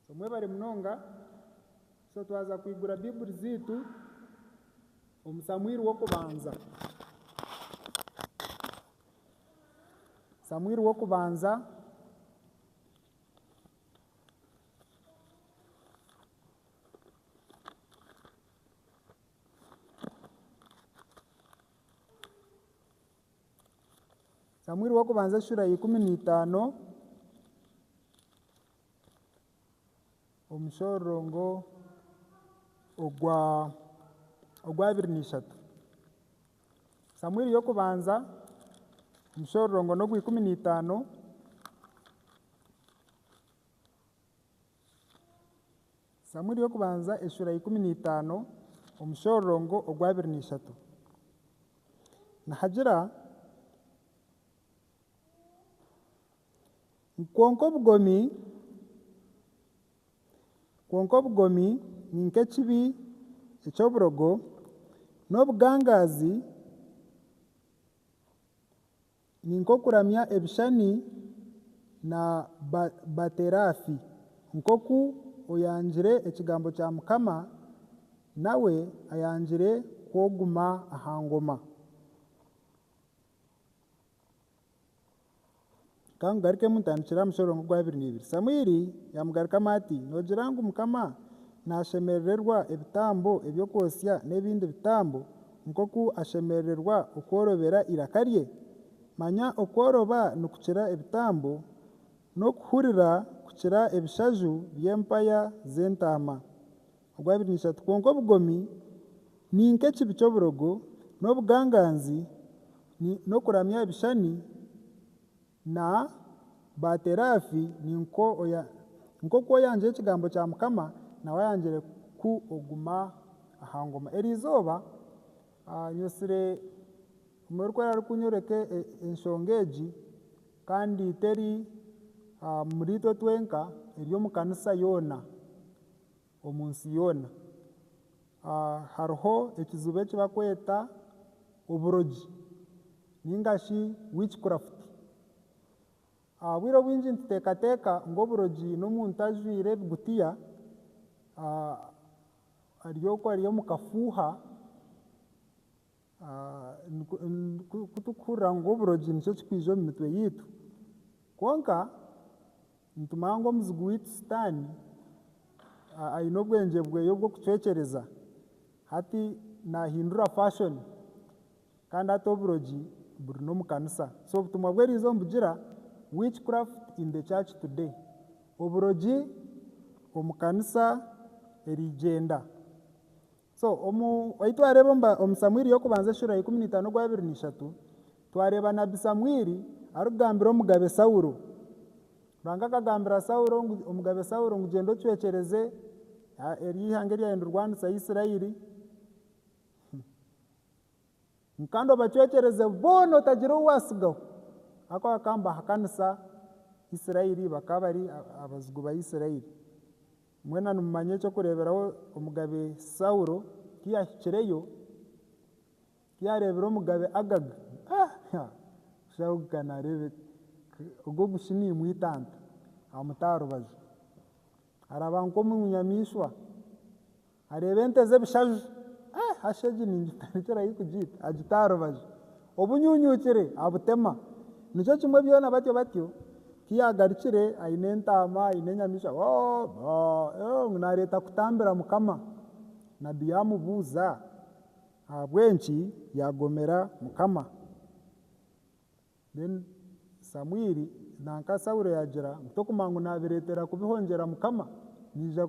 So mwebare munonga. So twaza kwigura Bibuli zaitu omu Samuiri w'okubanza. Samuiri w'okubanza Samuiri w'okubanza shura ya ikumi na itaano omushororongo ogwa ogwabiri na ishatu. Samuiri y'okubanza omushororongo n'ogwa ikumi na itaano. Samueli w'okubanza eshura ya ikumi na itaano omushororongo ogwa abiri na ishatu nihagira ngu kwonka obugomi kwonka obugomi ni nk'ekibi eky'oburogo n'obugangaazi Ni nk'okuramya ebishushani na Baaterafi. Nk'oku oyangire ekigambo kya Mukama, nawe ayangire ku oguma aha ngoma. Ka ngugarukemu ntandikire aha mushororongo ogwa abiri na ibiri. Samwiri yaamugarukamu ati, Noogira ngu Mukama naashemerererwa ebitambo eby'okwotsya n'ebindi bitambo nk'oku ashemerererwa okworobera iraka rye? Manya okworoba nikukira ebitambo, n'okuhurira kukira ebishaju by'empaya z'entaama. Ogwabiri n'ishatu, Kwonka obugomi ni nk'ekibi ky'oburogo, n'obuganganzi, ni n'okuramya ebishani Na ba teraafi ni nko oya, nk'oku oyangire ekigambo kya Mukama, nawe ayangire ku oguma aha ngoma. Eri izooba nyesire omwe orikwera ari kunyoreka enshonga egi, kandi teri omuri itwe twenka, eri omu kanisa yoona. Omu nsi yoona hariho ekizibu eki barikweta oburogi nainga shi witchcraft. Obwire obwingi nituteekateeka ngu oburogi n'omuntu ajwaire ebigutiya, ari oku ari omu kafuuha, Ku turikuhurira ngu oburogi nikyo kirikwija omu mitwe yaitu, kwonka nitumanya ngu omuzigu waitu Sitaane aine obwengye bwe obw'okucwekyereza. Hati naahindura fashion, kandi hati oburogi buri n'omu kanisa. So obutumwa obu eriize nibugira ngu witchcraft in the church today. Oburogi omu kanisa erigyenda. So omu ahi twareeba omu ba- omu samwiri y'okubanza eshuro ya ikumi n'itaano ogwa abiri n'ishatu twareeba nabbi samwiri arikugambira omugabe saulo ruhanga akagambira saulo ngu omugabe saulo ngu gyenda ocwekyereze a- eryo eihanga eryayenda orwanisa isirairi ngu kandi obacwekyereze boona otagira ou waatsigaho ahabw'okuba bakaba nibahakanisa isirairi bakaba bari a- abazigu ba isirairi. Mwena nimumanya eky'okureeberaho Omugabe Saulo ku yaahikireyo, ku yaareebire Omugabe Agaga. Ha-ha! Kushaho kuhika naareeba ogwo gushi niimwitanta amuta aha rubaju. Araba nk'omu nyamaishwa, areeba ente z'ebishaju, ha! Hashi egi ningitandikira hi kugiita! Agita aha rubaju. Obunyunyukire abutema. Nikyo kimwe byona batyo batyo. Ku yaagarukire aine entaama, aine enyamaishwa, Boo! Boo! Yoo! Ngu naareeta kutambira Mukama. Nabbi yaamubuuza ahabw'enki yaagomera Mukama. Then Samwiri nanka Saulo yaagira ngu Tokumanya ngu naabireetera kubihongyera Mukama? Naija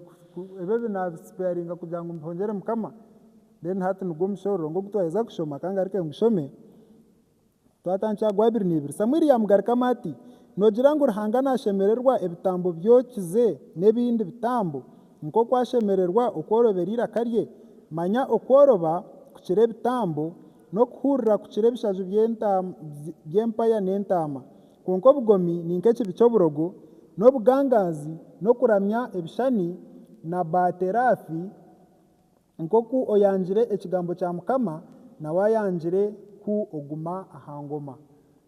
ebi ebi naabisipeyaringa kugira ngu mbihongyere Mukama? Then hati nigwo mushororongo ogu twaheza kushoma, ka ngaruke ngushome. Twatandikira gwa abiri na ibiri. Samwiri yaamugarukamu ati, Noogira ngu Ruhanga naashemererwa ebitambo byokize n'ebindi bitambo, nk'oku ashemererwa okworobera eiraka rye? Manya okworoba kukira ebitambo, n'okuhuurira kukira ebishaju by'empaya n'entaama. Kwonka obugomi ni nk'ekibi ky'oburogo, n'obugangaazi, n'okuramya ebishushani na Baateraafi, Nk'oku oyangire ekigambo kya mukama nawe ayangire ku oguma aha ngoma.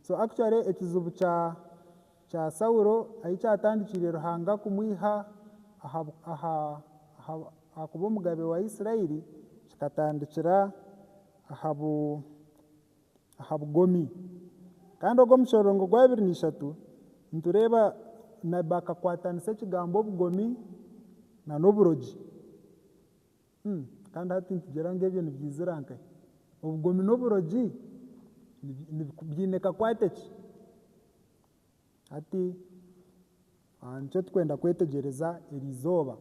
So actually ekizibu kya kya Saulo ahi kyatandikiire Ruhanga kumwiha aha aha aha aha kuba omugabe wa Israeli kikatandikira aha bu aha bugomi. Kandi ogu omushororongo gwa abiri na ishatu nitureeba nabbi akakwatanisa ekigambo obugomi na n'oburogi. Kandi hati nitugira ngu ebyo nibyaizira nkahi? Obugomi n'oburogi biine kakwate ki? Hati nikyo turikwenda kwetegyereza eri izooba.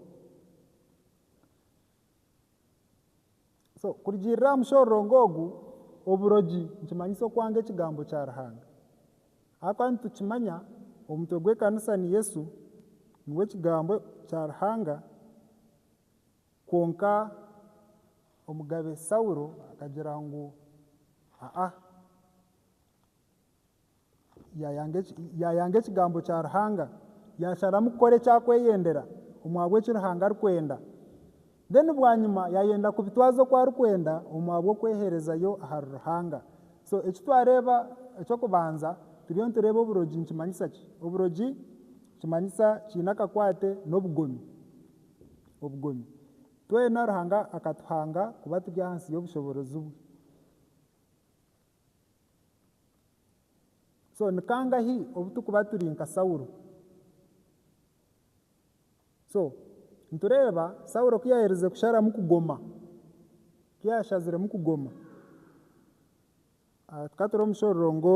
So kurugiirira aha mushororongo ogu, oburogi nikimanyisa okwanga ekigambo kya Ruhanga. Ahakuba nitukimanya omutwe gw'ekanisa ni Yesu, niwe kigambo kya Ruhanga, kwonka omugabe Saulo akagira ngu aa. Yaayanga ekigambo kya Ruhanga, yaasharamu kukora eki arikweyendera omu ahabw'eki Ruhanga arikwenda. Then bwanyima yaayenda kubitwaza oku arikwenda omu ahabw'okweheerezayo ahari Ruhanga. So eki twareeba eky'okubanza turiyo nitureeba oburogi nikimanyisa ki? Oburogi nikimanyisa kiine akakwate n'obugomi, obugomi. Twena Ruhanga akatuhanga kuba turi ahansi y'obushoboorozi bwe. so ni kangahi obu turikuba turi nka saulo so nitureeba saulo ku yaaherize kusharamu kugoma ku yaashaziremu kugoma tukaba turi omu kishororongo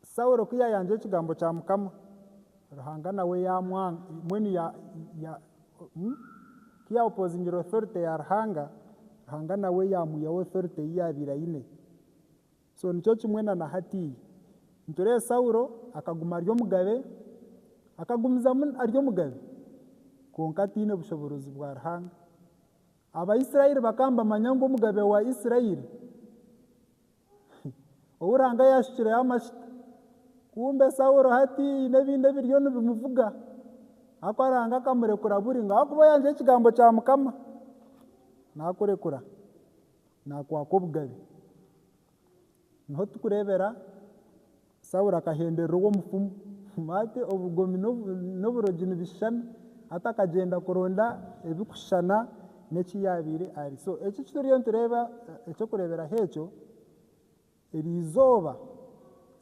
Saulo ku yaayangira ekigambo kya Mukama, Ruhanga nawe yaamwanga, mbwenu ya, ya, hmm? Ku yaopozingire authority ya Ruhanga, Ruhanga nawe yaamwihaho authority ei yaabaire aine. So nikyo kimwe na na hatiiya. Nitureeba Saulo akaguma ari omugabe, akagumizamu ari omugabe, kwonka ataine bushoboorozi bwa Ruhanga. Abaisraeli bakaba nibamanya ngu omugabe wa Israeli, ou Ruhanga yaashukireho amajuta. Kumbe Saulo hati haine ebindi ebiriyo nibimuvuga, ahakuba Ruhanga akamurekura buri ngu ahakuba oyanzire ekigambo kya Mukama, naakurekura, naakwaka obugabe. Niho turikureebera Saulo akahemberera ogwo mufumu. Maate obugomi n'oburogi nibishushana. Hati akagyenda kuronda ebirikushushana n'eki yaabaire ari. So eki eki turiyo nitureeba eky'okureeberaho ekyo, eri izooba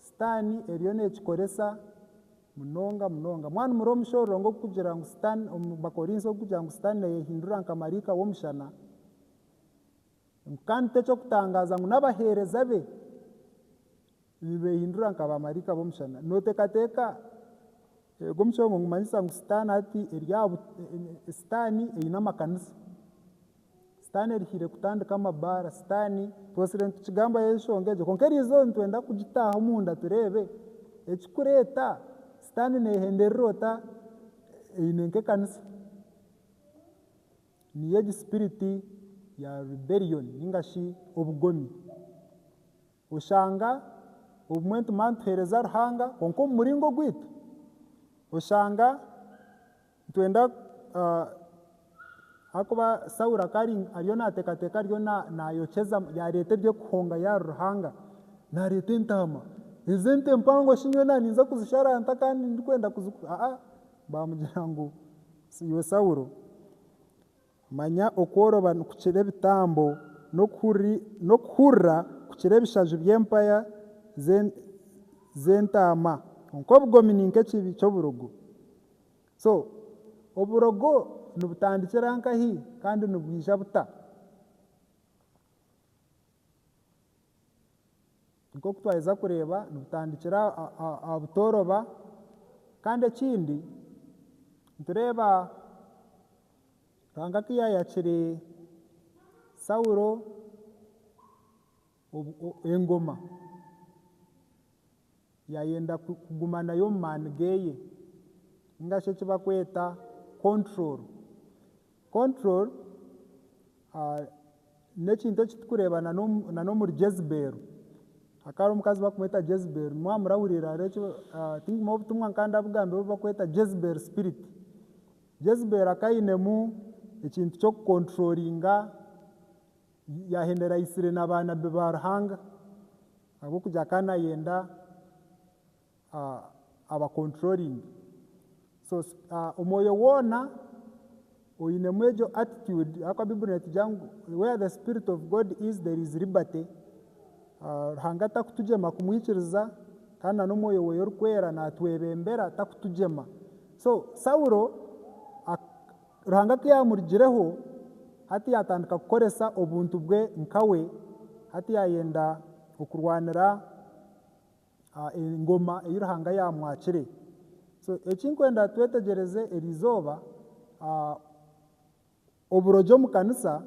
Sitaani eriyo neekikoresa munonga munonga. Mwanu murebe omushororongo ngu okugira ngu Sitaani, omu Bakorinso okugira ngu Sitaani naayehindura nka maraika w'omushana, ngu kandi ti eky'okutangaaza ngu n'abaheereza be Nibeehindura nka baamaraika b'omushana. Nooteekateeka ogwo musheengo nigumanyisa ngu Sitaane hati eri aha bu, Sitaane aine amakanisa. Sitaane erihaire kutandika amabaara, Sitaane, twotsire nitukigambaho enshonga egyo kwonka eri izooba nitwenda kugitaaha omunda tureebe ekirikureeta Sitaane neehenda erira ota eine nk'ekanisa. Niyo egi spirit ya rebellion ninga shi obugomi. Oshanga obumwe nitumanya nituheereza Ruhanga kwonka omu muringo ogwaitu. Oshanga nitwenda ahakuba Saulo akaba ari ariyo naateekateeka ariyo naayokyeza yaareeta eby'okuhongayo ahari Ruhanga. Naareeta entaama, ezi ente mpango shi nyowe naaninza kuzisharanta kandi ndikwenda kuzi aa baamugira ngu iwe Saulo. Manya okworoba nikukira ebitambo, n'okuhurira kukira ebishaju by'empaya z'entaama, kwonka obugomi ni nk'ekibi ky'oburogo. So oburogo nibutandikira nkahi kandi nibwija buta? Nk'oku twaheza kureeba nibutandikira aha butooroba kandi ekindi nitureeba Ruhanga ku yaayakire Saulo engoma. Yaayenda kuguma nayo omu maani geeye, ninga shi eki bakweta control. Control n'ekintu eki turikureeba na n'omuri Jezebel. Hakaba hariho omukazi barikumweta Jezebel, nimwaba murahurira hariho eki tinkumanya obutumwa nkaba ndabugambire obu barikweta Jezebel spirit. Jezebel akaba ainemu ekintu ky'oku controllinga Yaahinduraitsire na baanabbi ba Ruhanga ahabw'okugira akaba naayenda abakonturoringe. So omwoyo woona oinemu egyo attitude ahabw'okuba Baiburi neetwigira ngu where the spirit of God is there is liberty, Ruhanga takutugyema kumwikiriza kandi na n'omwoyo weeye orikwera naatwebembera takutugyema. So Saulo Ruhanga ku yaamurugireho, hati yaatandika kukoresa obuntu bwe nka we, hati yaayenda okurwanira engoma ei Ruhanga yaamwakire. So eki nkwenda twetegyereze eri izooba, oburogi omu kanisa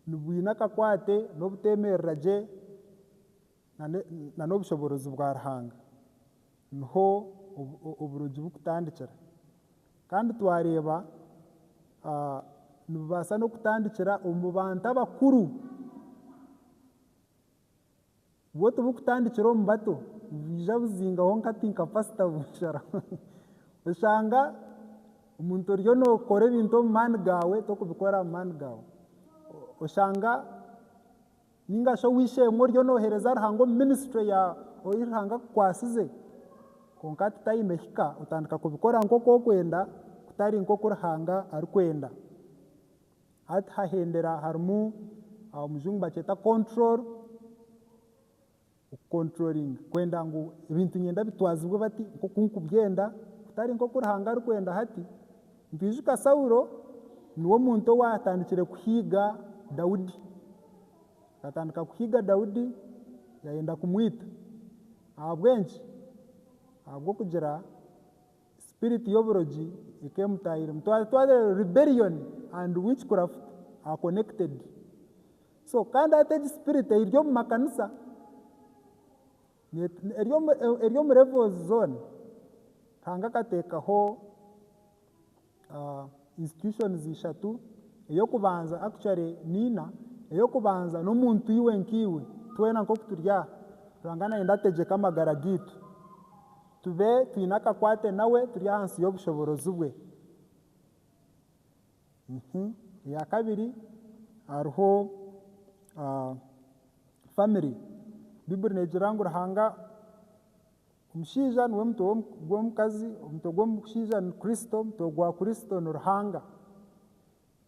nibwine akakwate n'obuteemerera gye. na n'obushoboorozi bwa Ruhanga niho oburogi burikutandikira. Kandi twareeba nibubaasa n'okutandikira omu bantu abakuru, bwo tiburikutandikira omu bato, nibwija buzingaho nk'ati nka pasita busharaho. Oshanga omuntu oriyo nookora ebintu omu maani gaawe torikubikora omu maani gaawe, oshanga. Ninga shi ow'eishe-emwe oriyo nooheereza Ruhanga omu minisitule ya Ou Ruhanga Akukwasize, kwonka hati taine hika, otandika kubikora nk'oku okwenda, kutari nk'oku Ruhanga arikwenda. Hati hahendera harimu, Omujungu bakyeta control, Okukonturoringa, kwenda ngu ebintu nyenda bitwazibwe bati nk'oku nkubyenda kutari nk'oku Ruhanga arikwenda. Hati nitwijuka Saulo niwe omuntu owaatandikire kuhiga Daudi. Akatandika kuhiga Daudi yaayenda kumwita. Ahabw'enki? Ahabw'okugira sipiriti y'oburogi eka emutaahiremu. Twaba twagira rebellion and witchcraft are connected. So kandi hati egi spirit eri omu makanisa eri omu levels zoona ruhanga akateekaho ah, institutions ishatu eyokubanza actually niina eyokubanza n'omuntu iwe nkaiwe twena nk'oku turi aha ruhanga nayenda ategyeke amagara gaitu tube twine akakwate nawe turi ahansi y'obushoboorozi bwe. Erya kabiri hariho family. Baiburi negira ngu Ruhanga, omushaija niwe mutwe gw'omukazi, omutwe gw'omushaija ni Kristo, omutwe gwa Kristo ni Ruhanga.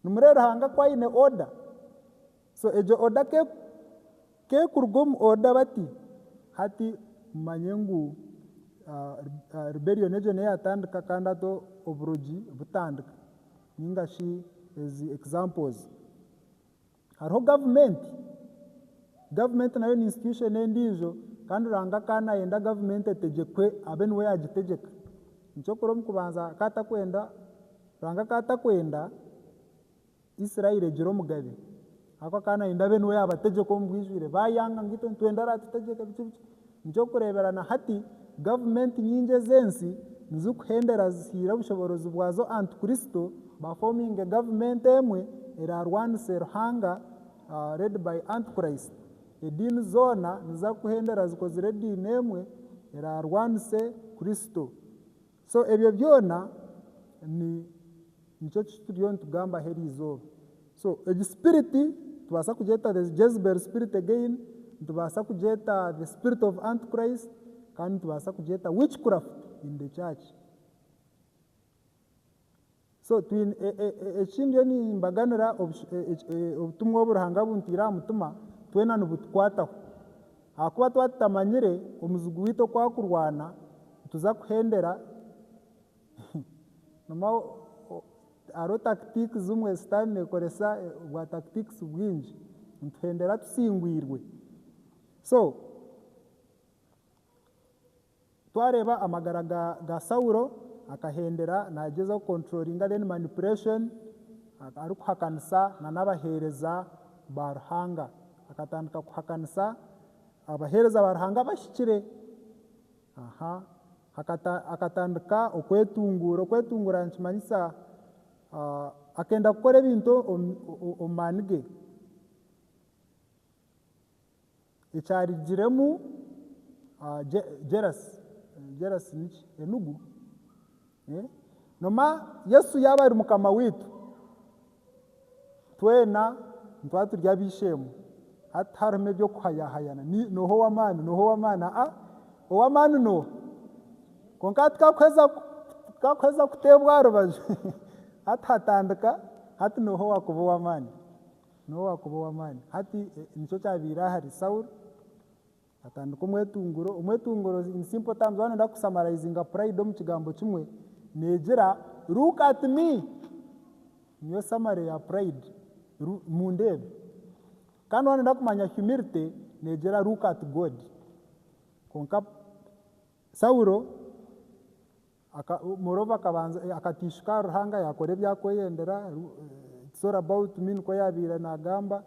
Nimureeba Ruhanga ku aine order, So egyo order ke kekuruga omu order bati hati mumanye ngu rebellion egyo neyatandika kandi hati oburogi butandika ninga shi ezi examples. Hariho government, government nayo ni institution endijo kandi Ruhanga akaba nayenda government etegyekwe abe niwe yagitegyeka. Ekyokureeba omukubanza akaba atakwenda, Ruhanga akaba atakwenda Israeli egira omugabe aku akaba nayenda abe niwe yabategyeka omu bwijwire bayanga ngu itwe nitwenda aratutegyeke biki biki nikyokureebera na hati gavumenti nyingi ez'ensi nizikuhendera zihiire obushoborozi bwazo antikristo bafominge gavumenti emwe erarwanise Ruhanga led by antichrist ediini zoona niza kuhendera zikozire ediini emwe erarwanise kristo So ebyo byona ni nikyo ki turiyo nitugambaho eri izooba. So egi spirit nitubaasa kugyeta the Jezebel spirit again, nitubaasa kugyeta the spirit of Antichrist, kandi nitubaasa kugyeta witchcraft in the church. So twine eki ndiyo nimbaganira obutumwa obu Ruhanga abuntiire aha mutima twena nibutukwataho ahakuba twaba tutamanyire omuzigu waitu oku akurwana nituza kuhendera hariho tactics zimwe sitaani nekoresa bwa tactics bwingi nituhendera tusingwirwe so Twareeba amagara ga ga Saulo akahendera nagyezaho ku controllinga then manipulation arikuhakanisa na n'abahereza ba Ruhanga. Akatandika kuhakanisa abahereza ba Ruhanga abahikire. Aha akata akatandika okwetunguura. Okwetunguura nikimanyisa akenda kukora ebintu omu maani ge. Ekyarugiremu, jerasi, jerasi niki? Enugu. Noma Yesu yaaba ari Mukama waitu, twena nitwaba turi ab'eishe-emwe. Hati tiharimu eby'okuhayahayana, nooha ow'amaani, nooha ow'amaani, aa, ow'amaani nooha? Kwonka tikakuheza, tikakuheza kuteebwa aha rubaju, hati hatandika, hati nooha owaakuba ow'amaani? N'obu waakuba ow'amaani. Hati, nikyo kyabaire ahari Saulo. Atandika omwetunguro. Omwetunguro, in simple terms, waaba nooyenda kusamaraizinga pride omu kigambo kimwe, neegira, Look at me! Niyo summary ya pride. Ru, Mundeebe. Kandi waaba nooyenda kumanya humility, neegira, Look at God! Kwonka, Saulo. Aka, Moroba akabanza, eh, akatiishuka aha Ruhanga, yaakora ebyakweyendera, eh, it's all about me, nikwo yaabaire naagamba,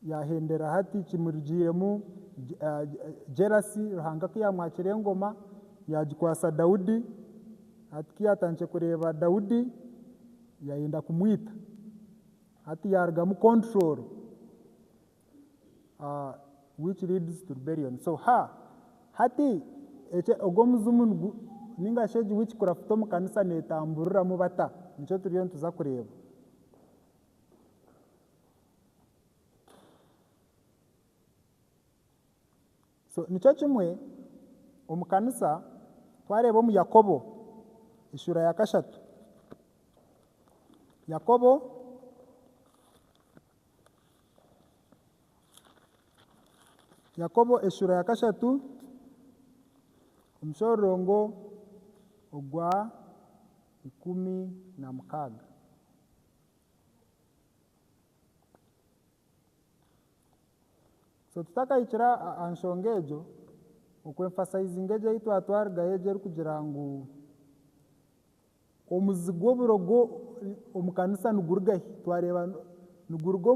yaahendera hati kimurugiiremu je, ah, jealousy, Ruhanga ku yaamwakire engoma, yaagikwasa Daudi, hati ku yaatandikire kureeba Daudi, yaayenda kumwita, hati yaarugamu control. which leads to rebellion. So ha hati ogu omuzimu ninga shi egi wikikurafuta omu kanisa netamburiramu bata nikyo turiyo nituza kureeba. So nikyo kimwe omu kanisa twareeba omu Yakobo eshuura ya kashatu Yakobo Yakobo eshuura ya kashatu omushororongo ogwa ikumi na mukaaga. So tutakahikire aha nshonga egyo okwemfasayizinga egyo ei twatwarigayo egyo erikugira ngu Omuzi gw'oburogo omu kanisa nigurugahi? Twareeba niguruga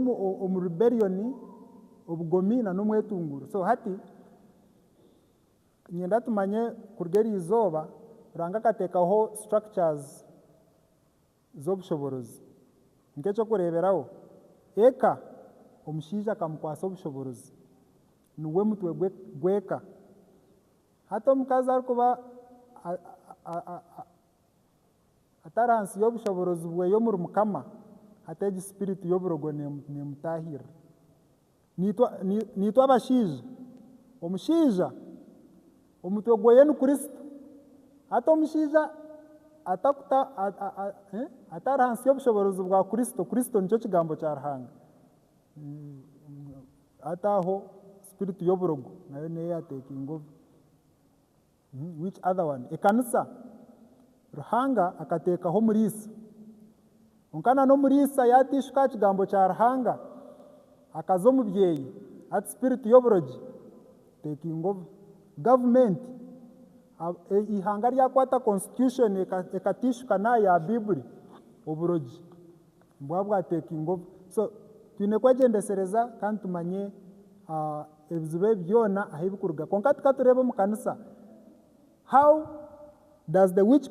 omu rebellion, obugomi na n'omwetunguuro. So hati niinyenda tumanye kuruga eriizooba Ruhanga akateekaho structures z'obushoboorozi. Nk'eky'okureeberaho, eka, omushaija akamukwasa obushoboorozi. Niwe mutwe gw'eka. Hati omukazi arikuba atari hansi y'obushoboorozi bweye omuri Mukama, hati egi sipiritu y'oburogo neemutaahirira. Naitwe abashaija, omushaija omutwe gweye ni Kristo. Hati omushaija atari hansi y'obushoboorozi bwa Kristo, Kristo nikyo Kigambo kya Ruhanga. Hati aho spirit y'oburogo nayo neyo ya taking over. Which other one? Ekanisa. Ruhanga akateekaho omuriisa. Kwonka na n'omuriisa yateishuka aha kigambo kya Ruhanga, akaza omu byeyi, hati spirit y'oburogi taking over. Gavumenti, eihanga ryakwata constitution ekateishuka n'aha ya Baiburi, oburogi. bwaba bwa taking over so twine kwegyendesereza kandi tumanye ebizibu ebi byona ahu bikuruga kwonka tukatureeba omu kanisa how does the witch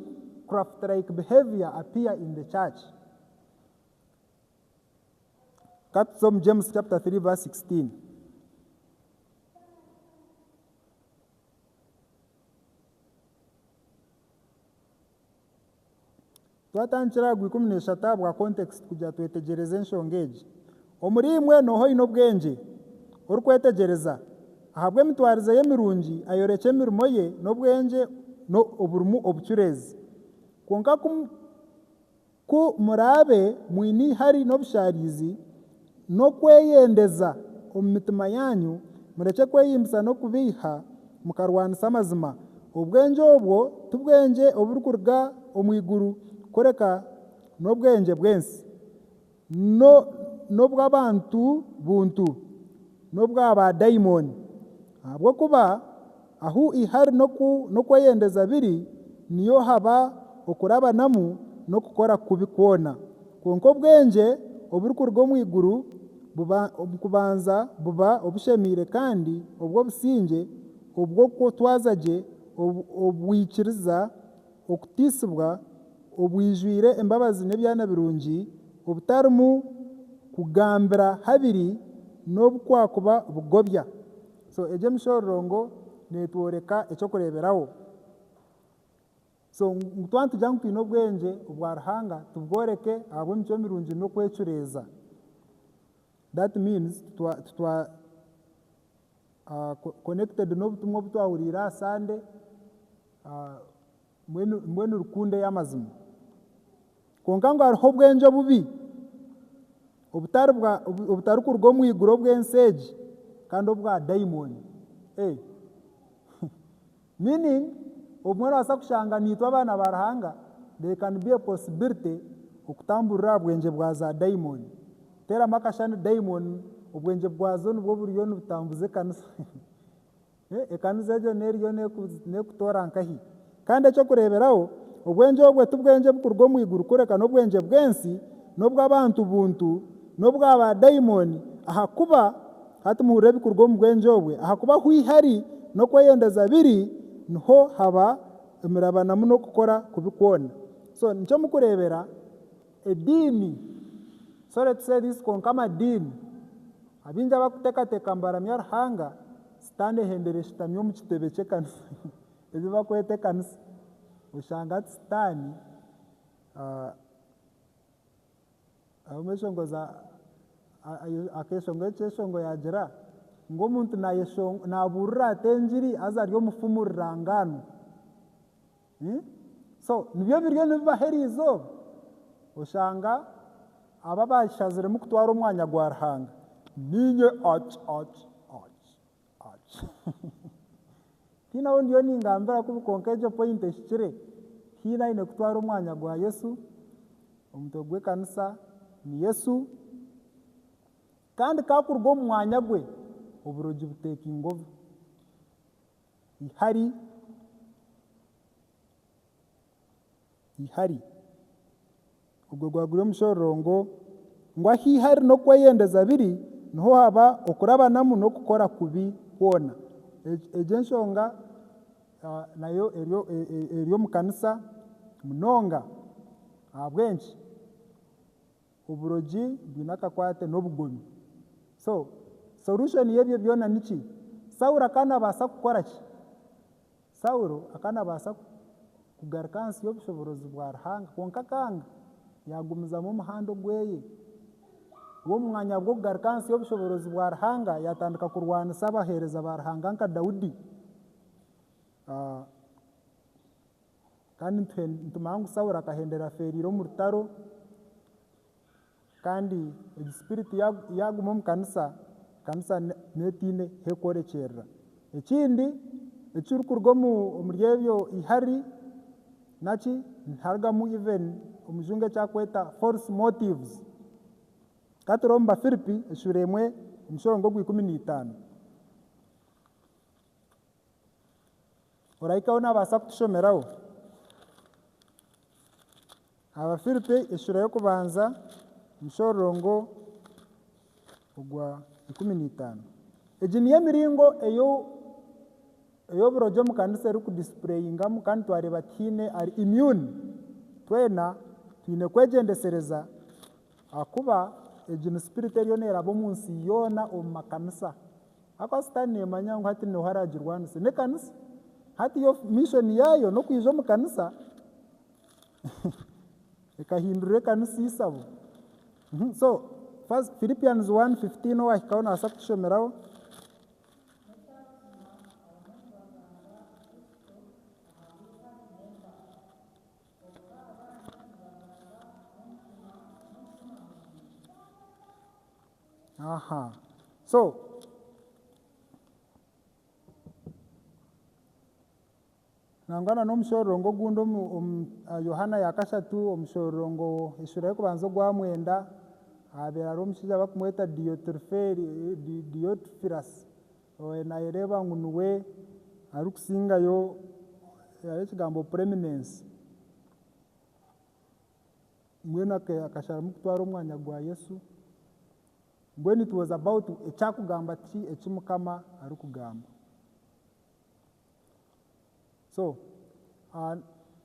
craft like behavior appear in the church katuze omu James chapter 3 verse 16 Twatandikira aha gw'ikumi n'eshatu ahabwa context kugira twetegyereze enshonga egi. Omuri imwe noha oine obwengye, orikwetegyereza, ahabw'emitwarize ye mirungi, ayorekye emirimo ye n'obwengye no oburimu obucureezi. Kwonka ku ku muraabe mwine eihari n'obushaariizi, n'okweyendeza omu mitima yaanyu, murekye kweyimbisa n'okubeiha, mukarwanisa amazima. Obwengye obwo tibwengye oburikuruga omu iguru, kureka n'obwengye bw'ensi, n'obw'abantu buntu, n'obwa baadaimoni. Ahabw'okuba. Ahu eihari n'okweyendeza biri, niyo haba okurabanamu n'okukora kubi kwona. Kwonka obwengye oburikuruga omu iguru kubanza buba obushemeire kandi obw'obusingye, obw'okutwaza gye, obwikiriza, okutiisibwa, obwijwire embabazi n'ebyana birungi, obutarimu kugambira habiri n'obu kwakuba bugobya. So egi emishororongo networeka ekyokureberaho. So ngu twaba nitugira ngu twine obwengye obwa Ruhanga tubworeke ahabwemicwe mirungi nokwecureeza. That means titwa connected nobutumwa obutwahuriire aha Sunday. Mbwenu, mbwenu rukundo ey'amazima. Kwonka ngu hariho obwengye obubi, obutari bwa, obu- obutarikuruga omu iguru obw'ensi egi, kandi obwa daimoni. Ee. Meaning, obumwe noobaasa kushanga niitwe abaana ba Ruhanga, there can be a possibility okutamburira aha bwengye bwa za daimoni. Teeramu akashani daimoni, obwengye bwazo nibwo buriyo nibutambuza ekanisa. Ekaniso egyo n'eriyo neekutoora nkahi? Kandi eky'okureeberaho, obwengye obwo tibwengye bukuruga omu iguru kureka n'obwengye bw'ensi, n'obw'abantu buntu, n'obwa baadaimoni, ahakuba, hati muhurire ebikuruga omu bwengye obwo, ahakuba ahu ihari n'okweyendeza biri, niho haba emirabanamu n'okukora kubi kwona. So, nikyo mukureebera, ediini, sorry to say this, kwonka amadiini. Abaingi abakutekateka ngu baramya Ruhanga, sitaane ehendera eshutami omu kitebe ky'ekanisa eki bakweta ekanisa. Oshanga hati sitaane arumu eshonga za akeshonga ekyeshonga yagira ngu omuntu naburira ata engiri haza ari omufumu rirangaanwa. So nibyo ebiriyo nibibaho eriizooba? Oshanga aba abashaziremu kutwara omwanya gwa Ruhanga niinye oki oki oki oki tihaine ou ndiyo ningambira kubi kwonka egyo point ehikire haine aine kutwara omwanya gwa Yesu, omutwe gw'ekanisa ni Yesu kandi ku akuruga omu mwanya gwe oburogi butekinga ovu. Ihari, ihari. Ogwo gwaguri omushororongo ngu ahu ihari n'okweyendeza biri niho haba okurabanamu n'okukora kubi kwona. Egyo enshonga nayo eri omu kanisa munonga. Ahabw'enki? Oburogi bwine akakwate n'obugomi. So, solution y'ebyo byona niki? Saulo akaba nabaasa kukora ki? Saulo akaba nabaasa kugaruka ahansi y'obushoboorozi bwa Ruhanga kwonka akanga yagumizamu omuhanda ogweye. We omu mwanya gw'okugaruka ahansi y'obushoboorozi bwa Ruhanga yatandika kurwanisa abaheereza ba Ruhanga nka Daudi. Kandi nituhe nitumanya ngu Saulo akahendera afeereire omu rutaro, kandi egi spirit ya yaaguma omu kanisa, kanisa ne n'eteine hi ekworekyerera. Ekindi ekirikuruga omu omuri ebyo ihari naki niharugamu even omujungu eki akweta false motives. Ka turebe omu Bafiripi eshuura emwe omushoro ng'ogwikumi na itaano. Orahikaho naabaasa kutushomeraho? Abafiripi eshuura y'okubanza omushororongo ogwa ikumi na itaano. Egi niyo emiringo ey'oburogi omu kanisa erikudisipureyingamu kandi twareeba tihaine ari immune. Twena twine kwegyendesereza Ahakuba egi ni sipiriti eriyo neeraba omu nsi yoona omu makanisa. Ahakuba Sitaane neemanya ngu hati niho araagirwanise. N'ekanisa. Hati yo mishoni yaayo n'okwija omu kanisa ekahindura ekanisa eisabo. Mhm, So, first Philippians one fifteen owaahikaho naasa kutushomeraho. aha so nangwa na n'omushororongo ogundi omu omu ah, yohana yakashatu omushororongo eshura y'okubanza ogwa mwenda ahabeera hariho omushaija bakumweta diyotiriferi diyotirifirasi Oyo naayereeba ngu niwe arikusingayo, hariho ekigambo preminence, mbwenu akasharamu kutwara omwanya gwa Yesu. Mbwenu it was about ekyakugamba ki eki Mukama arikugamba. So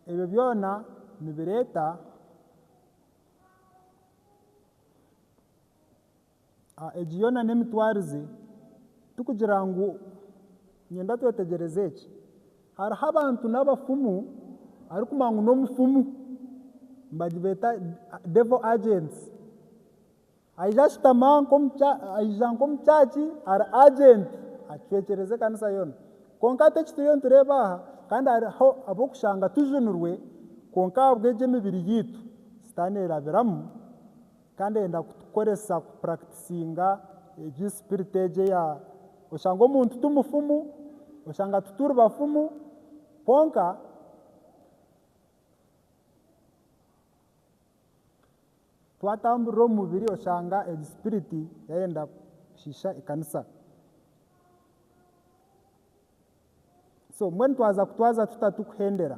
ebyo byona nibireeta. Egi yoona n'emitwarize. Tikugira ngu nyenda twetegyereze eki. Hariho abantu n'abafumu arikumanya ngu n'omufumu nibagibeeta devil agents. Aija ashutama aija nk'omu church ari agent acwekyereza ekanisa yoona. Kwonka hati eki turiyo nitureeba aha kandi hariho ab'okushanga tujunirwe kwonka ahabw'egi emibiri yaitu sitaane erabiramu Kandi ayenda kutukoresa ku practicinga egi spirit egi eya oshanga omuntu ti mufumu, oshanga tituri bafumu kwonka twatamburira omu mubiri oshanga egi spirit yayenda kushiisha ekanisa. So mbwenu twaza kutwaza tuta turikuhendera?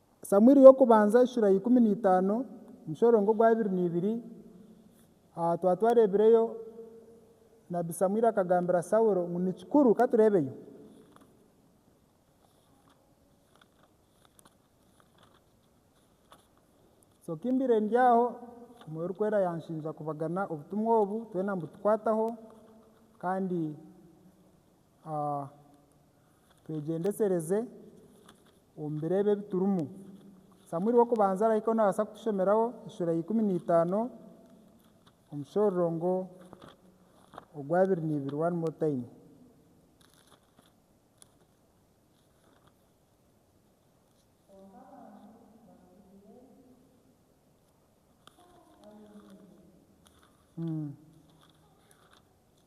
Samuiri y'okubanza ishura ya ikumi na itaano omushorongo ogwa abiri na ibiri Twaba twareebireyo Nabi Samuiri akagambira Saulo ngu ni kikuru ka tureebeyo. So ki mbaire ndi aho Mwoyo Orikwera yaanshinja kubagana obutumwa obu twena ngu tukwataho kandi A Twegyendesereze omu biro ebi ebi turimu. Samuiri w'Okubanza arahika ou naabaasa kutushomeraho eshuura ya ikumi na itaano omu shororongo ogw'abiri n'eibiri one more time.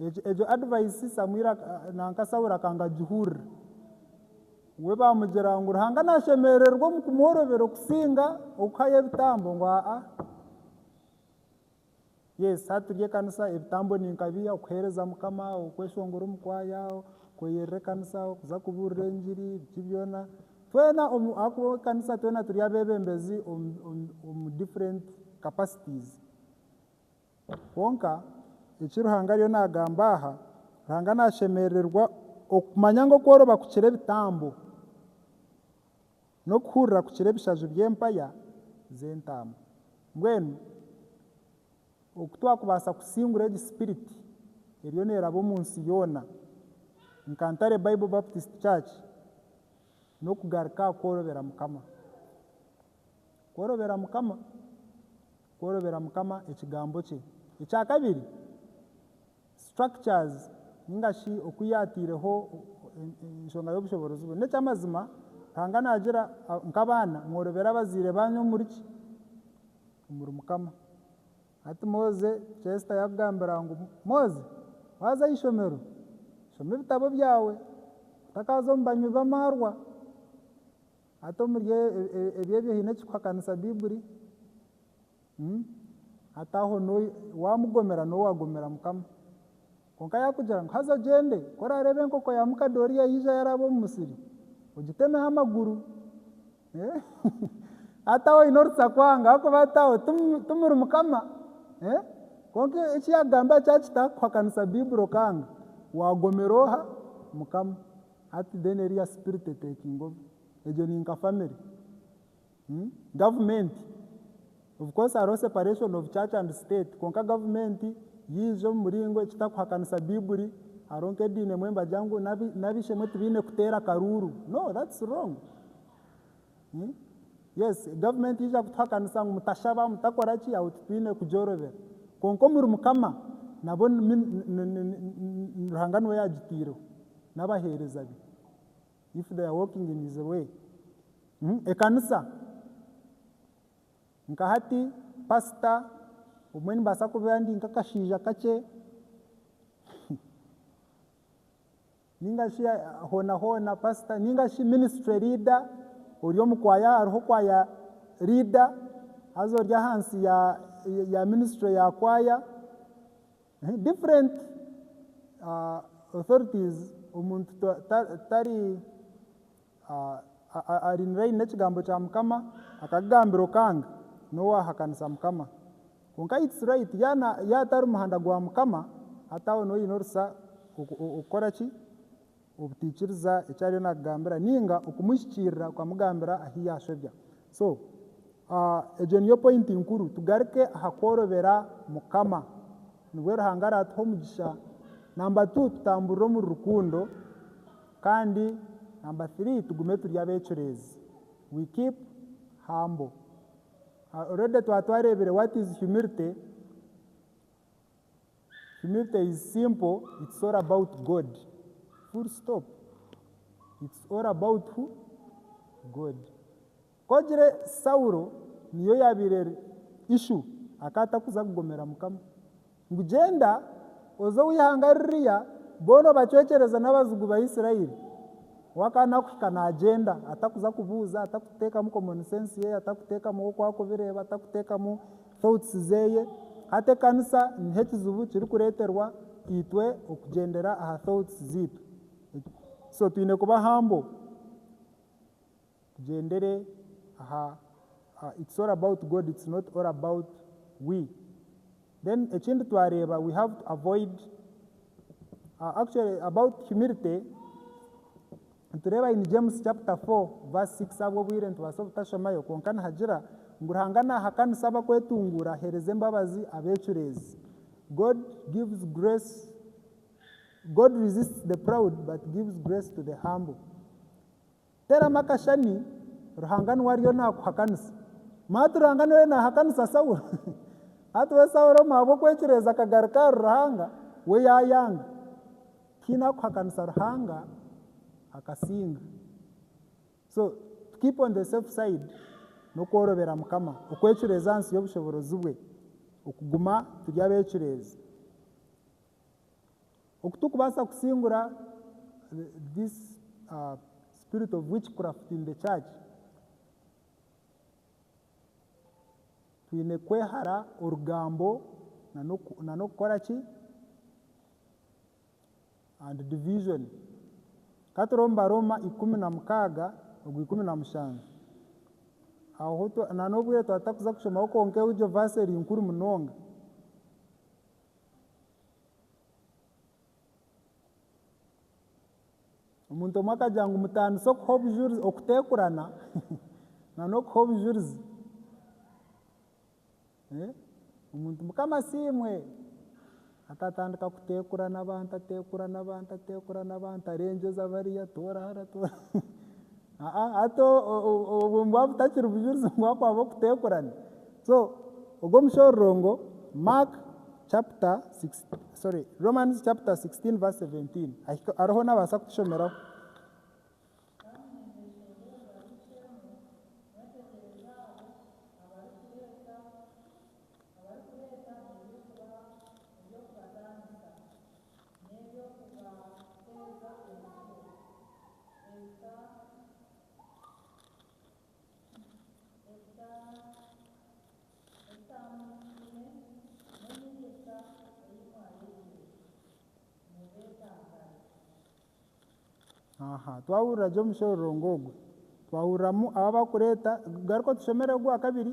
Egyo advice Samuel nanka Saul akanga agihurira. We bamugira ngu Ruhanga nashemererwa omu kumworobera okusinga okuhayo ebitambo ngu aa. Yes hati turi ekanisa ebitambo ninka biha okuhereza mukama, okweshongora omu kwaya, kweyerera ekanisa, okuza kuburira engiri biki byona. Twena ahakuba ekanisa twena turi abebembezi omu different capacities. Kwonka, eki Ruhanga ariyo naagamba aha, Ruhanga naashemerererwa okumanya ngu okworoba kukira ebitambo, n'okuhurira kukira ebishaju by'empaya z'entaama. Mbwenu, oku twakubaasa kusingura egi sipiriti eriyo neeraba omu nsi yoona nka Ntare Bible Baptist Church, n'okugaruka aha kworobera Mukama. Kworobera Mukama. kworobera Mukama Ekigambo kye. Ekya kabiri, structures ninga shi oku yaataireho enshonga y'obushoboorozi bwe. N'eky'amazima, Ruhanga naagira nk'abaana, Mworobere abazaire baanyu omuri ki? Omuri Mukama. Hati Moze, Chester yaakugambira ngu, Moze, waaza aha ishomero, shoma ebitabo byawe, otakaaza omu banywi b'amaarwa. Hati omuri ebyo ebi haine ekikuhakanisa Bibuli? Hati aho wamugomera nowe wagomera Mukama. Konka yakugira ngu haza ogyende, ku orareeba enkoko ya mukadori yayija yaraba omu musiri, ogitemeho amaguru. Hati aho oyine orutsa kwanga ahakuba hati aho timuri Mukama. Konka eki yagamba kyakita kukuhakanisa Bibuli okanga, wagomera oha? Mukama. Hati then eriya spirit etaking over egyo ni nka family hmm gavumenti of course hariho separation of church and state kwonka gavumenti yaija omu muringo ekitakuhakanisa baiburi hariho nka ediini emwe nibagira ngu n'abishemwe tibaine kuteera akaruuru no that's wrong. Yes, government yaija kutuhakanisa ngu mutashaba, mutakora ki, aho titwine kugyorobera. Kwonka omuri Mukama nabwo Ruhanga niwe yagitaireho, n'abaheereza be, if they are walking in his way. Ekanisa, nka hati pastor obumwe nimbaasa kuba ndi nk'akashaija kakye. Ninga shi hoona hoona pastor ninga shi ministry leader ori omu kwaya hariho kwaya leader haza ori ahansi ya ya ministry ya kwaya ehe different authorities omuntu tari Arinire aine ekigambo kya Mukama, akakigambira okanga, n'owaahakanisa Mukama. Kwonka it's right, yaaba atari muhanda gwa Mukama, hati aho niho oine orusa okukora ki? Obutaikiriza eki ariyo naakugambira nainga okumuhikiirira okamugambira ahu yaashobya. So egyo niyo point nkuru, tugaruke aha kworobera Mukama, nibwo Ruhanga araatuha omugisha nambatu tutamburire omuri rukundo. Kandi number three tugume turi abecureezi we keep humble already twaba twareebire what is humility, humility is simple it's all about God full stop it's all about who? God. Ku ogire Saulo niyo yaabaire eri ishu akaba atakuza kugomera Mukama. Ngu gyenda oze owa ihanga ririya boona obacwekyereze n'abazigu ba Israeli. We akaba naakuhika naagyenda atakuza kubuuza, atakuteekamu common sense ye, atakuteekamu oku arikubireeba, atakuteekamu thoughts ze. Hati ekanisa niho ekizibu kirikureeterwa itwe okugyendera aha thoughts zaitu. So twine kuba humble. Tugyendere aha It's all about God it's not all about we then ekindi twareeba we have to avoid actually about humility nitureeba in James chapter 4 verse 6 ahabw'obwire nitubaasa obutashomayo kwonka nihagira ngu Ruhanga naahakanisa abakwetunguura aheereza embabazi abeecureezi God gives grace God resists the proud but gives grace to the humble. Teramu akashani Ruhanga nuwe ariyo nakuhakanisa. Mati Ruhanga noyo nahakanisa Saulo? Hati we Saulo omu ahabwokwecureeza akagaruka ahari Ruhanga, we yayanga. Tihaine akuhakanisa Ruhanga akasinga. So to keep on the safe side nokworobera Mukama, okwecureeza ahansi yobushoborozibwe, okuguma turi abecureezi. Oku turikubaasa kusingura this spirit of witchcraft in the church, twine kwehara orugambo na n'okukora ki? And division. Ka turebe omu Barooma ikumi na mukaaga ogwa ikumi na mushanju. Aho na n'obwire twaba tutakuza kushomaho kwonka egyo verse eri nkuru munonga. Omuntu omwe akagira ngu mutandise okuha obujurizi okuteekurana nana okuha obujurizi. Eh, omuntu Mukama asiimwe, akatandika kuteekurana abantu ateekurana abantu ateekurana abantu arengyeza bariya toora hara toora Aa hati obwo bwaba butakiri bujurizi ngu hakwaba okuteekurana. So ogwo omushororongo Mark chapter six sorry Romans chapter 16 verse 17 ahika hariho naabaasa kutushomeraho. N'eby'okubaheereza emere eza etaamwikaine n'enyegyesa ei mwayegire, mubeetantare. Twahurira gye omushororongo ogu, twahuriramu abu abarikureeta, garuka otushomere ogu aha kabiri.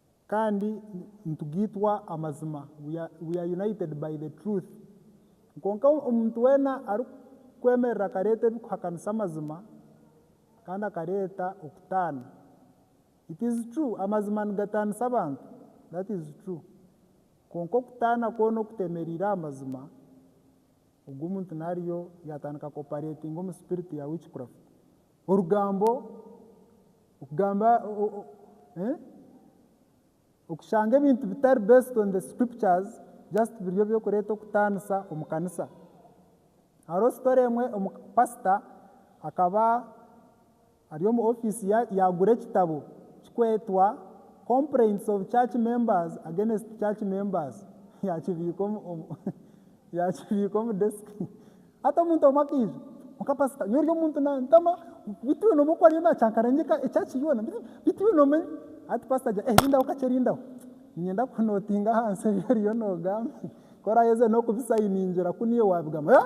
Kandi nitugaitwa amazima, we are, we are united by the truth. Kwonka omuntu weena arikwemerera akareeta ebirikuhakanisa amazima, kandi akareeta okutaana. It is true, amazima nigataanisa abantu, that is true. Kwonka okutaana kwoona okutemereire aha mazima, ogwo omuntu naariyo yaatandika ku operatinga omu spirit ya witchcraft. Orugambo okugamba okushanga ebintu bitari based on the scriptures just biri ebyokureta okutanisa omu kanisa. Hariho story emwe pastor akaba ari omu office yagura ekitabo kikwetwa complaints of church members against church members yakibika omu desk. Hati omuntu omwe akaija. Kwonka pasita, nyowe oryo muntu nantama, bitu yoona omwe ku ariyo nacankara ngyeka ekyaki yoona, bitu bitu yoona omwe. Hati pasita agira eeh rindaho kakye rindaho, niinyenda kunotinga ahansi ebi oriyo nogamba, ku orayeze n'okubisayiningira ku niiwe waabigamba. Eeh!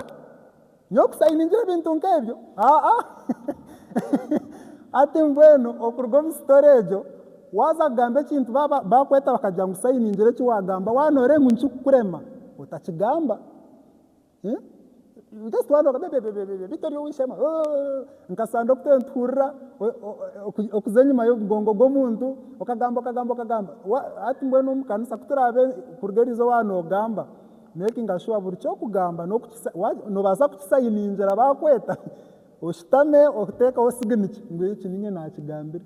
Nyowe kusayiningira ebintu nk'ebyo? Aa a! Hati mbwenu okuruga omu sitori egyo, waaza kugamba ekintu baaba baakweta bakagira ngu sayiningira eki waagamba, waaba nooreeba ngu nikikurema, otakigamba. Bitari ow'eishema nkasanda okutera nituhurira okuza enyima y'omugongo gw'omuntu okagamba okagamba okagamba hati mbwenu omu kanisa kuturabe kuruga erizooba nogamba makinga shuwa buri ky'okugamba nobaasa kukisayiningira bakweta oshutame otekeho siginikya ngu eki ninye nakigambire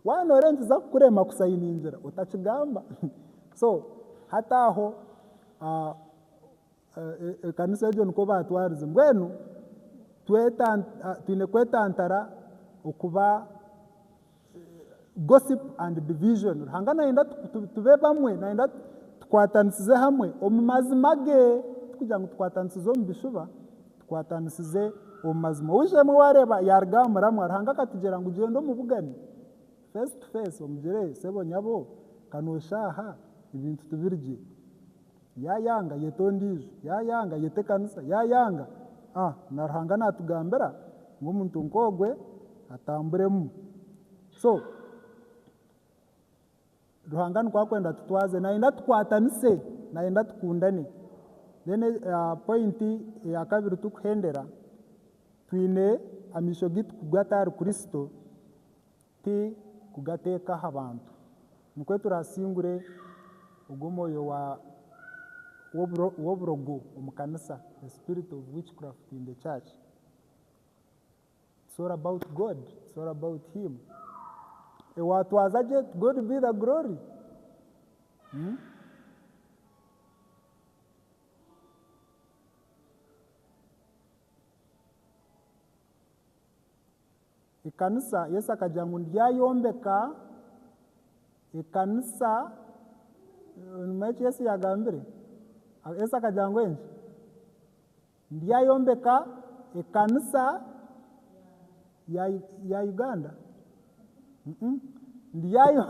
waaba noreeba nikiza kukurema kusayiningira otakigamba so hati aho. Ekanisa egyo nikwo baatwarize. Mbwenu twine kwetantara okuba gossip and division. Ruhanga nayenda tube bamwe, nayenda tukwatanisize hamwe omu mazima ge, tikugira ngu tukwatanisize omu bishuba, tukwatanisize omu mazima. Oweishe-emwe waareeba yaaruga aha muramwa, Ruhanga akatugira ngu gyenda omubugane, face to face, omugire, Sebo nyabo, ka nooshaaha, ebintu tibiri gye. Yaayanga, yeta ondiijo. Yaayanga, yeta ekanisa. Yaayanga, a. Na Ruhanga naatugambira ngu omuntu nk'ogwe atamburemu. So, Ruhanga nikwo akwenda tutwaze. Naayenda tukwatanise. Naayenda tukundane. Then poyinti eya kabiri turikuhendera, twine amaisho gaitu kugata ahari Kristo, Ti kugateeka aha bantu. Nikwo turaasingure ogwo mwoyo wa, w'oburo, w'oburogo omu kanisa, the spirit of witchcraft in the church. It's all about God. It's all about Him. Ewaatwaza gye, to God be the glory. Hmm? Ekanisa, Yesu akagira ngu niryayombeka ekanisa. Nimumanya eki Yesu yagambire? Yesu akagira ngu enki? Niryayombeka ekanisa ya, ya Uganda? Mm-mm. Niryayo,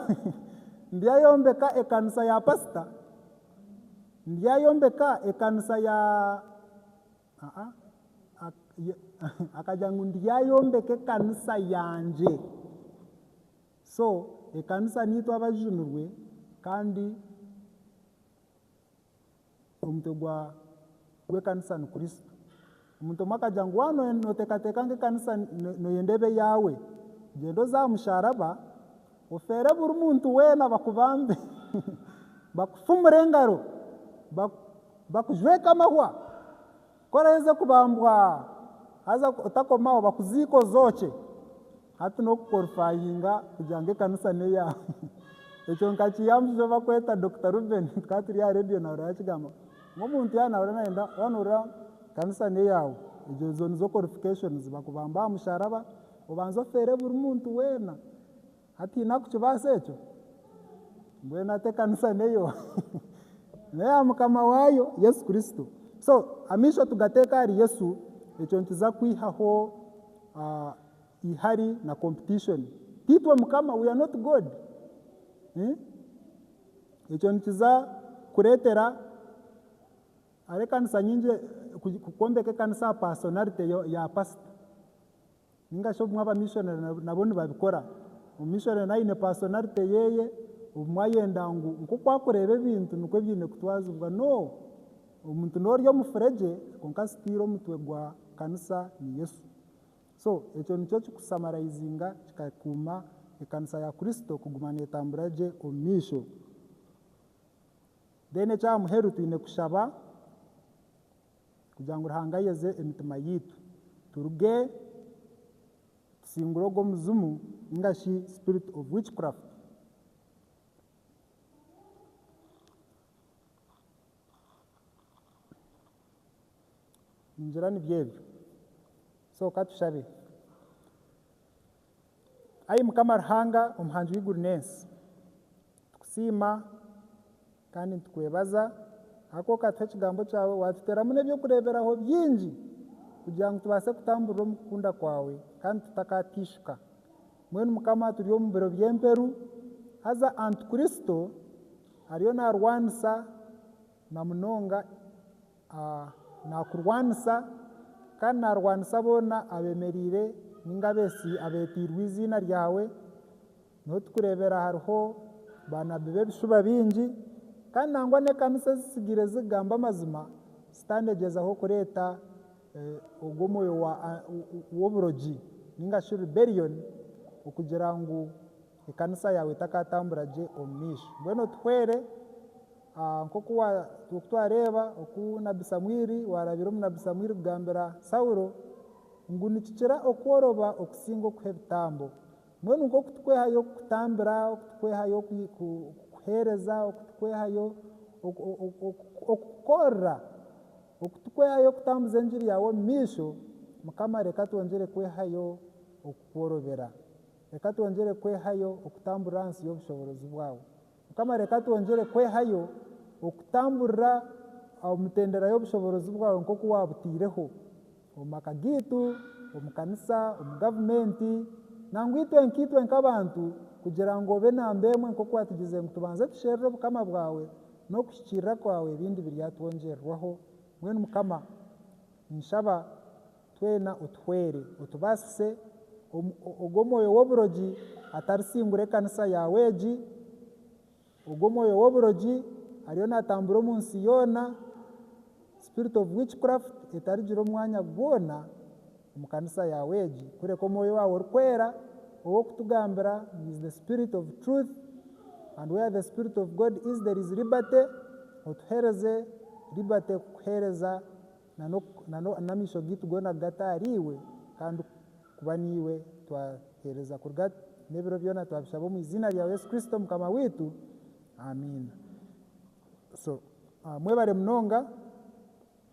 niryayombeka ekanisa ya pasita? Niryayombeka ekanisa ya Akagira ngu ndi yaayombeka ekanisa yangye. So ekanisa niitwe abajunirwe kandi omutwe gw'ekanisa ni Kristo. Omuntu omwe akagira ngu waaba nooteekateeka ngu ekanisa nooyenda ebe yaawe, gyenda oze aha musharaba, Ofeere buri muntu weena bakubambe, bakufumure engaro, bakujweke amahwa. Ku oraheza kubambwa haza otakomaho bakuziike ozookye. Hati n'okukorifayinga kugira ngu ekanisa n'eyaawe. Ekyo nkakiihamu buzima obu bakweta Dokita Rubeni tukaba turi aha reediyo naahurira bakigamba ngu omuntu yaaba naahurira naayenda wanuura ekanisa n'eyaawe. Ezo nizo korifikashonizi, bakubamba aha musharaba Obanze ofeere buri muntu weena hataine arikukibaasa ekyo? Mbwenu ati ekanisa neyo neya mukama waayo Yesu Kristo. So amaisho tugateeke ahari Yesu, ekyo nikiza kwihaho ah, ihari na competition. Tiitwe mukama, we are not God. Eh? Ekyo nikiza kureetera hariho ekanisa nyingi, ku- kwombeka ekanisa aha personality ya- ya pasita. Ninga shi obumwe abamishonare na bo nibabikora. Omumishonare nawe aine paasonarite yeye, obumwe ayenda ngu nk'oku arikureeba ebintu nikwo byaine kutwazibwa. No, omuntu n'ori omufuregye kwonka sitiiri omutwe gwa kanisa ni Yesu. So, ekyo nikyo ekirikusamaraizinga kikakuuma ekanisa ya Kristo kuguma neetambura gye omu maisho. Then eky'aha muheru twine kushaba kugira ngu Ruhanga ayeze emitima yaitu turuge tusingure ogwo muzimu ninga shi spirit of witchcraft. Ningira nibyo ebyo. So ka tushabe. Ai Mukama Ruhanga Omuhangi w'eiguru n'ensi, nitukusiima kandi nitukwebaza ahakuba okatuha ekigambo kyawe, waatuteeramu n'eby'okureeberaho bingi kugira ngu tubaase kutamburira omu kukunda kwawe kandi tutakateishuka. Mbwenu Mukama turi omu biro by'emperu, haza Antikristo ariyo naarwanisa na munonga. Naakurwanisa, kandi naarwanisa boona abeemereire ninga abeeteirwe eiziina ryawe. Niho turikureebera hariho baanabbi b'ebishuba bingi, kandi nangwa n'ekanisa ezitsigire ezirikugamba amazima, Sitaane egyezaho kureeta ogwo mwoyo w'oburogi, ninga shi rebellion, okugira ngu. Ekanisa yaawe etakaatambura gye omu maisho. Mbwenu otuhwere nk'oku twareeba oku nabbi Samuiri waarabire omunabbi Samuiri kugambira Saulo ngu nikikira okworoba okusinga okuha ebitambo. Mbwenu nk'oku turikwehayo kukutambira, oku turikwehayo kukuheereza, oku turikwehayo okukukorera, oku turikwehayo kutambuza engiri yaawe omu maisho, Mukama reka twongyere kwehayo okukworobera. Reka twongyere kwehayo okutamburira ahansi y'obushoboorozi bwawe. Mukama, reka twongyere kwehayo okutamburira omu mitendera y'obushoboorozi bwawe nk'oku waabutaireho, omu maka gaitu, omu kanisa, omu gavumenti, nangwa itwe nkaitwe nk'abantu, kugira ngu obe namba emwe nk'oku waatugizire ngu tubanze tusherure Obukama bwawe n'okuhikiirira kwawe ebindi biryatwongyererwaho. Mbwenu Mukama, ninshaba. Twena otuhwere, otubaasise, ogwo omwoyo w'oburogi atarisiingura ekanisa yaawe egi, ogwo omwoyo w'oburogi ariyo naatambura omu nsi yoona, spirit of witchcraft etarigira omwanya gwona omu kanisa yaawe egi, kureka omwoyo waawe orikwera ow'okutugambira ngu is the spirit of truth and where the spirit of God is there is liberty, otuheereze liberty kukuheereza. na n'amaisho gaitu goona kugata ahari iwe, kandi kuba naiwe twaheereza kuruga n'ebiro byona, twabishaba omu iziina rya Yesu Kristo Mukama waitu. Amiina. So, mwebare munonga.